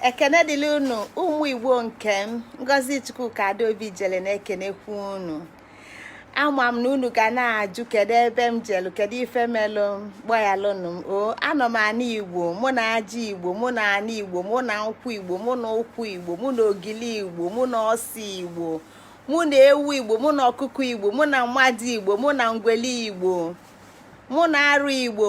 ekene dịlị unu ụmụ igbo nke m ngozi chukwuka adaobi ijele na-ekenekwu unu ama m na unu ga na-ajụ kedu ebe m jelu kedu ife melụ gbayalụnụ m o anọ m ana igbo mụ na aja igbo mụ na ana igbo mụ na nkwụ igbo mụ na ụkwa igbo mụ na ogili igbo mụ na ose igbo mụ na ewu igbo mụ na ọkụkọ igbo mụ na mmadụ igbo mụ na ngwele igbo mụ na arụ igbo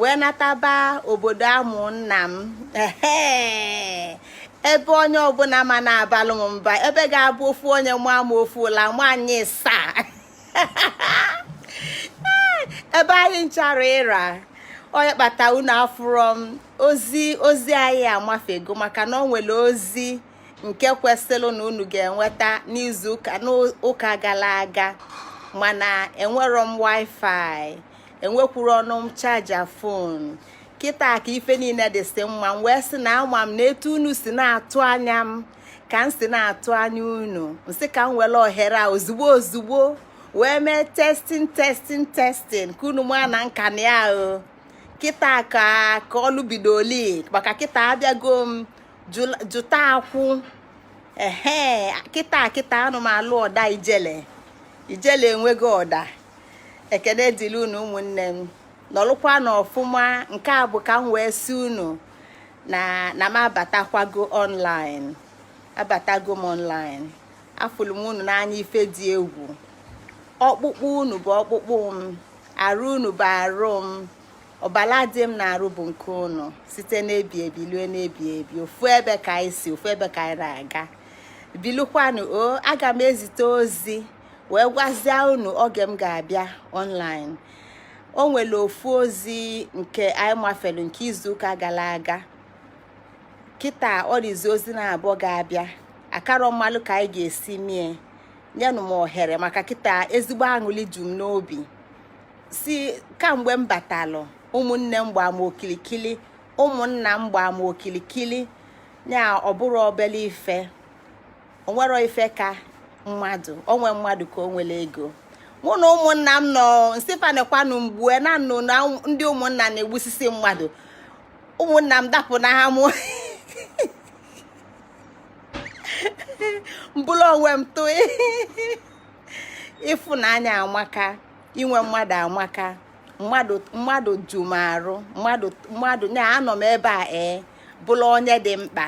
wee nataba obodo a mụ nna m ebe onye ọbụna ama na-abalụ m mba ebe ga-abụ ofu onye maa m ofu ụla nwanyị saa ebe anyị nchara ịra onye kpata unu afụrọ m ozi ozi anyị amafego maka na o nwelu ozi nke kwesịlị na unu ga-enweta n'izu ụka n'ụka galụ aga mana enwero m wifi enwekwuronụ m charger phone kịta ka ife niile dịsị mma m wee sị na ama m na etu unu si na-atụ anya m ka m si na-atụ anya unu m sị ka m welu ohere a ozugbo ozugbo wee mee testing testing testing ka unu maa na m ka nọ ya o kịta ka ka ọlụ bidoli maka kịta abịago m jụta akwụ ehe kịta kịta anụ m alụ ọda ijele ijele enweghị ọda ekene dịlị unu ụmụnne m nọlụkwanụ ọfụma nke a bụ ka m wee sị unu na na m abatakwago online abatago m online afụlụ m unu n'anya ife dị egwu ọkpụkpụ unu bụ ọkpụkpụ m arụ unu bụ arụ m ọbala dị m n'arụ bụ nke unu site n'ebi ebi lue n'ebi ebi ofu ebe ka anyị si ofu ebe ka anyị na-aga bilikwanụ o aga m ezite ozi wee gwazie unu oge m ga-abịa online o nwelu ofu ozi nke anyị mafelu nke izuụka galụ aga kịta ọ dịzi ozi naabọ ga-abịa akarọ m malụ ka anyị ga-esi mie nyenụ m ohere maka kịta ezigbo aṅụlị ju m n'obi si kamgbe m batalụ ụmụnne m gbaa m okilikili ụmụnna m gbaa m okilikili ya ọ bụrọ obele ife o nwero ife ka mmadụ o nwe mmadụ ka o nwelu ego mụ na ụmụnna m nọ m sị fa nekwanụ m gbue na m nụ na ndị ụmụnna na-egbusisi mmadụ ụmụnna m dapụ n'amụ m bulu onwe m tụọ ịfụnanya amaka inwe mmadụ amaka mmadụ mmadụ ju m arụ mmadụ mmadụ na anọ m ebe a ee bụrụ onye dị mkpa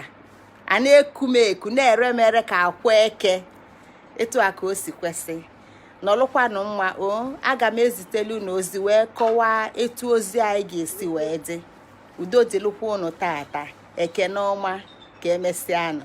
a na-eku m eku na-ere m ere ka akwa eke etu a ka o si kwesị nọlụkwanụ mma o aga m ezitelu ụnụ ozi wee kọwaa etu ozi anyị ga-esi wee dị udo dịlụkwa ụnụ tata ekene ọma ka emesịanụ